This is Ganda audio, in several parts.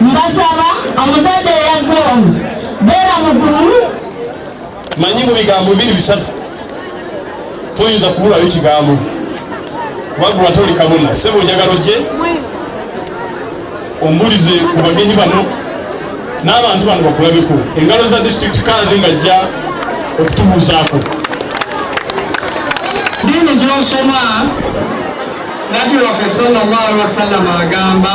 Mbasaba omuzadde eyazze wano beera mugumu. Manyi mu bigambo bibiri bisatu toyinza kubulayo kigambo kubanga watoli kabona sebo njagala ojje ombulize ku bagenyi bano n'abantu bano bakulabeko engalo za district kandi ngajja okutubuuzaako dini gyosoma nabbi waffe sallallahu alaihi wasallam agamba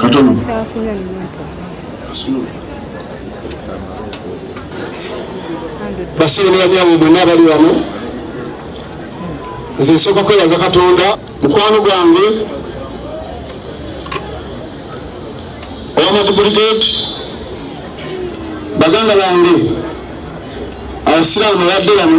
Katono. Basibe nebanyabo mwenna abali wano nze nsooka kwebaza katonda mukwano gwange owamatu brigade baganda bange abasiraamu abadde bano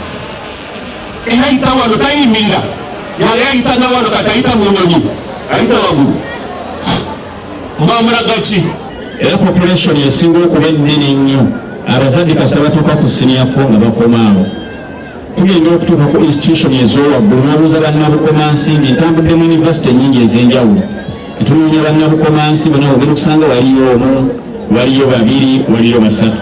eyayita wano tayimirira yali ayita nawano kati ayita munyonyi ayita wagulu mbamulaga ki era population esinga okuba ennene ennyo abazadde kasa batuuka ku siniya fo nga bakomaawo tugenda okutuuka ku institution ezowaggulu nabuuza bannabukomansimbi ntambudde mu univesity enyingi ez'enjawulo etunoonya bannabukomansi bona ogenda okusanga waliyo omu waliyo babiri waliyo basatu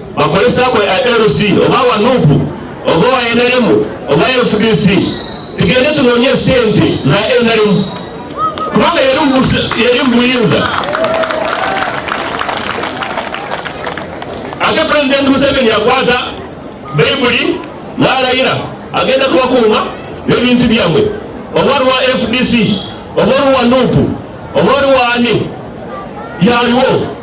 bakozesa gwe LC oba wa nup oba wa nrm oba fdc tugende tunonye sente za nrm kubanga yali mubuyinza ate pulezidenti museveni yakwata bayibuli nalayira agenda kubakuuma nebintu byabwe oba lwa fdc oba oluwa nupu oba oluwa ani yaliwo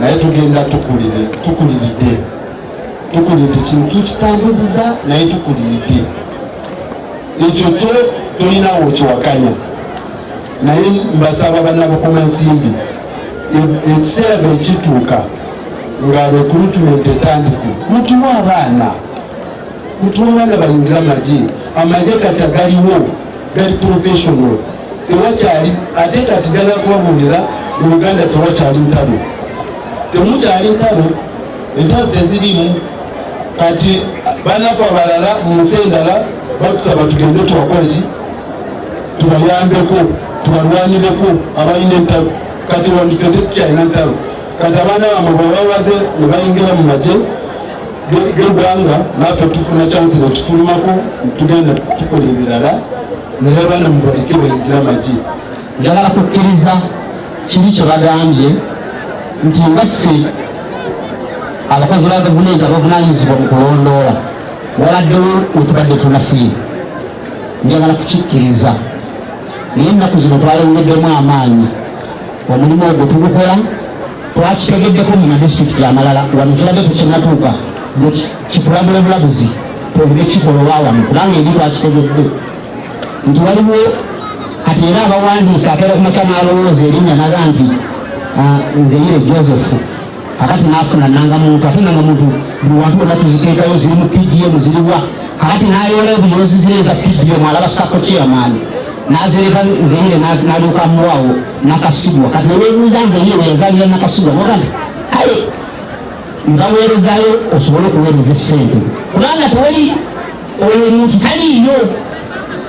naye tugenda tukulire tukuliridde tukuliridde kino tukitambuziza naye tukuliridde ekyo kyo tolinawo okiwakanya naye mbasaba banabukuma nsimbi e, ekiseera bwekituuka nga recruitment etandise mutuwa abaana mutuwa abaana bayingira amagye amagye kati agaliwo gali professional tewakyali ate kati njagala kubabuulira mu uganda tewakyali ntalo temukyali ntalo entalo tezirimu kati banafu abalala mu nsi endala batusaba tugende tubakoleki tubayambeko tubalwanireko abalina entalo kati wandife tetukyalina ntalo kati abaana bamwe bwebabaze ne bayingira mu magye gwanga naffe tufuna kyansi netufulumako tugenda tukola ebirala naye abaana mubaleke bayingira amagi njagala kukkiriza kiri kyebagambye nti nga ffe abakozi ba gavumenti abavunanyizibwa mu kulondoola wabaddewo wetubadde tunafuye njagala kukikkiriza naye ennaku zino twayongeddemu amaanyi omulimu ogwo tugukola twakitegeddeko mu madisitulikiti amalala wano tubadde tekinatuuka kikulagula bulabuzi twogere kikolowa wano kubanga eri twakitegedde nti waliwo kati era abawandiisa akeera kumakya n'alowooza erinnya naga nti ah, nze yire joseph kakati nafuna nanga muntu ate nanga muntu buli wantu wonna tuziteekayo ziri mu pdm ziriwa kakati nayoola ebuyoozi zireza pdm alaba sako chairman nazireka nzeyire nalyoka muwawo nakasubwa kati newebuuza nzeyire weyazalira nakasubwa noga nti kale mbaweerezayo osobole okuweereza esente kubanga tewali oyo muntu taliiyo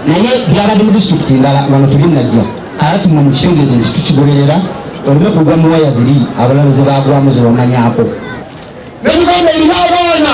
naye byabadde mu disitulikiti endala wano tebinajja ati mwe mukitegeere nti tukigoberera oleme kugwa mu waya ziri abalala ze bagwamu zebamanyako ne uganda erina abaana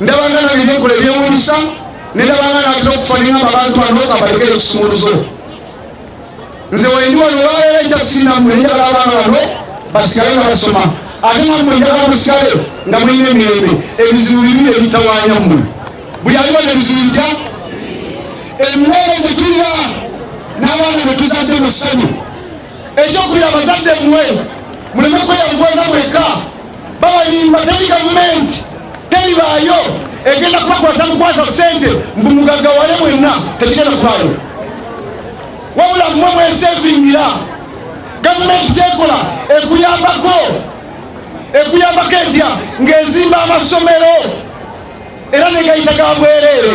ndabanga nange byekola ebyewunyisa nendabanga natera okufanira abantu bano nga balekera ekisumuluzo nze wendi wano olwaleero ekyasindamu enjala abaana bano basigale nga basoma ate namwe enjala musigale nga mulina emirembe ebizibu bibi ebitawanya mmwe buli aliwo nebizibu bitya emmere gyetulya n'abaana betuzadde mu ssanyu ekyokubiri abazadde mmwe muleme kweyavuwaza mwekka babalimba teri gavumenti teribaayo egenda kubakwasa mukwasa sente mbu mugagga wale mwenna tekigenda kubaayo wabula mmwe mwesevingira gavumenti kyekola ekuyambako ekuyambako etya ng'ezimba amasomero era negayita ga bwereere